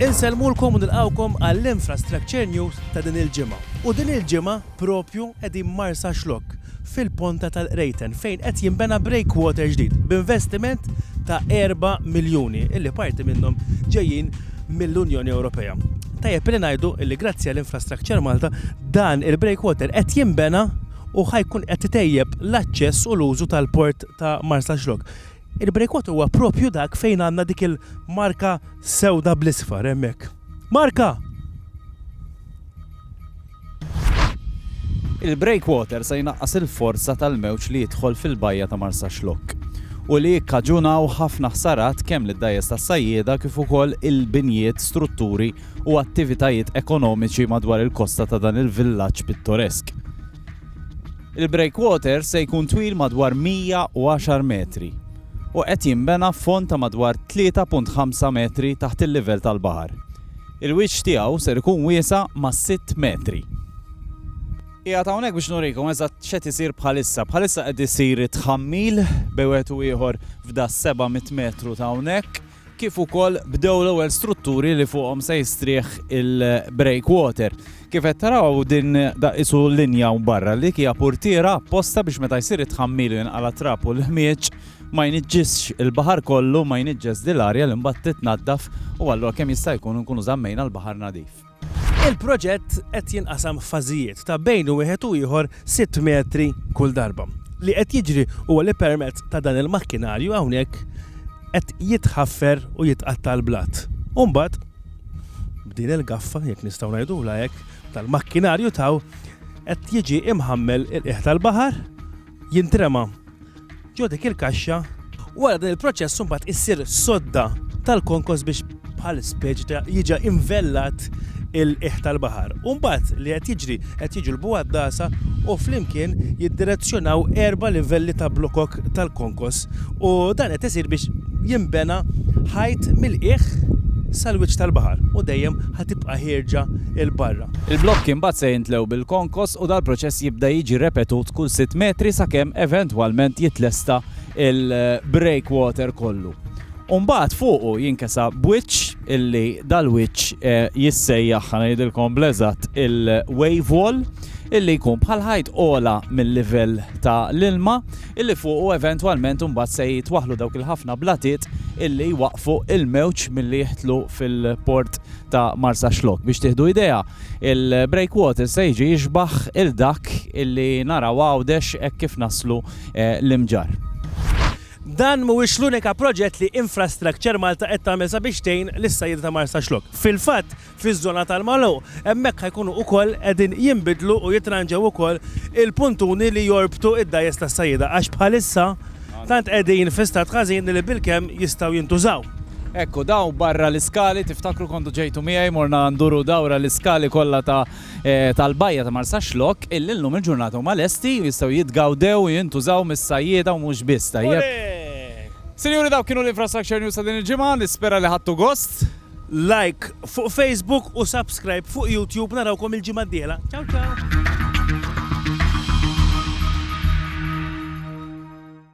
Insellmulkom u nilqgħukom għall-Infrastructure News ta' din il-ġimgħa. U din il-ġimgħa propju qegħdin Marsaxlokk, fil-Ponta tal-Qrejten, fejn qed jinbena breakwater ġdid b'investiment ta' erba' miljuni, illi parti minnhom ġejjin mill-Unjoni Ewropea. Tajjeb illi ngħidu illi grazzi għal Infrastructure Malta, dan il-breakwater qed jinbena u ħa jkun qed itejjeb l-aċċess u l-użu tal-port ta' Marsaxlokk. Il-breakout huwa propju dak fejn għandna dik il-marka sewda bl-isfar hemmhekk. Marka! Il-breakwater se jnaqqas il-forza tal-mewġ li jidħol fil-bajja ta' Marsaxlokk u li jikkaġunaw ħafna ħsarat kemm lid-dgħajjes tas-sajjieda kif ukoll il-binjiet, strutturi u attivitajiet ekonomiċi madwar il-kosta ta' dan il-villaġġ pittoresk. Il-breakwater se jkun twil madwar 110 metri u qed jinbena f'fond ta' madwar 3.5 metri taħt il-livell tal-baħar. Il-wiċċ tiegħu ser ikun wiesa' ma' sitt metri. Qiegħed hawnhekk biex nurikom eżatt x'qed isir bħalissa. Bħalissa qed isir it-tħammil bejn wieħed u ieħor f'da' 700 metru ta' hawnhekk. kif ukoll bdew l-ewwel strutturi li fuqhom se jistrieħ il-breakwater. Kif qed taraw din daqisu linja u barra li hija purtiera apposta biex meta jsir it-tħammil u jinqala' trab u l-ħmieġ ma jniġġisx il-baħar kollu ma jniġġes dil-arja li mbagħad titnaddaf u allura kemm jista' jkun nkunu żammejna l-baħar nadif. Il-proġett qed jinqasam f'fażijiet ta' bejn wieħed u ieħor sitt metri kull darba. Li qed jiġri huwa li permezz ta' dan il-makkinarju hawnhekk qed jitħaffer u jitqatta' l-blat. U mbagħad b'din il-gaffa, jekk nistgħu ngħidulha hekk, tal-makkinarju taw qed jiġi imħammel il-qiegħ tal-baħar jintrema ġo dik il-kaxxa. Wara dan il-proċess imbagħad issir sodda tal-konkos biex bħal speċi ta' jiġa invellat il-qiegħ tal-baħar. U mbagħad li qed jiġri, qed jiġu l-bugħaddasa u flimkien jiddirezzjonaw erba' livelli ta' blokok tal-konkos. U dan qed isir biex jinbena ħajt mill-qiegħ sal-wiċċ tal-baħar u dejjem ħa tibqa' ħierġa 'l barra. Il-blokki mbagħad se jintlew bil-konkos u dal-proċess jibda jiġi repetut kull sitt metri sakemm eventwalment jitlesta l-breakwater kollu. U mbagħad fuqu jinkesa b'wiċċ illi dal-wiċċ jissejjaħ, ħa ngħidilkom bl-eżatt, il-wave wall, illi jkun bħal ħajt ogħla mil-livell ta' l-ilma. illi fuqu eventwalment imbagħad se jitwaħħlu dawk il-ħafna blatiet illi jwaqqfu l-mewġ milli jidħlu fil-port ta' Marsaxlokk. Biex tieħdu idea, il-breakwater se jiġi jixbah il dak illi naraw Għawdex hekk kif naslu l-Imġarr. Dan mhuwiex l-unika proġett li Infrastructure Malta qed tagħmel sabiex tgħin lis-sajjieda ta' Marsaxlokk. Fil-fatt, fiż-żona tal-magħluq. Hemmhekk ħa jkunu ukoll qegħdin jinbidlu u jitranġew ukoll il-puntuni li jorbtu id-dgħajjes tas-sajjieda għax bħalissa tant qegħdin fi stat ħażin li bilkemm jistgħu jintużaw. Ekku dawn barra l-iskali, tiftakru kontu ġejtu miegħi morna nduru dawra l-iskali kollha ta' tal-bajja ta' Marsaxlokk illi llum il-ġurnata huma lesti u jistgħu jitgawdew u jintużaw mis-sajjieda u mhux biss, tajjeb? Sinjuri dawk kienu l-Infrastructure News ta' din il-ġimgħa, nispera li ħadtu gost. Like fuq Facebook u subscribe fuq YouTube narawkom il-ġimgħa d-dieħla. Ciao ciao!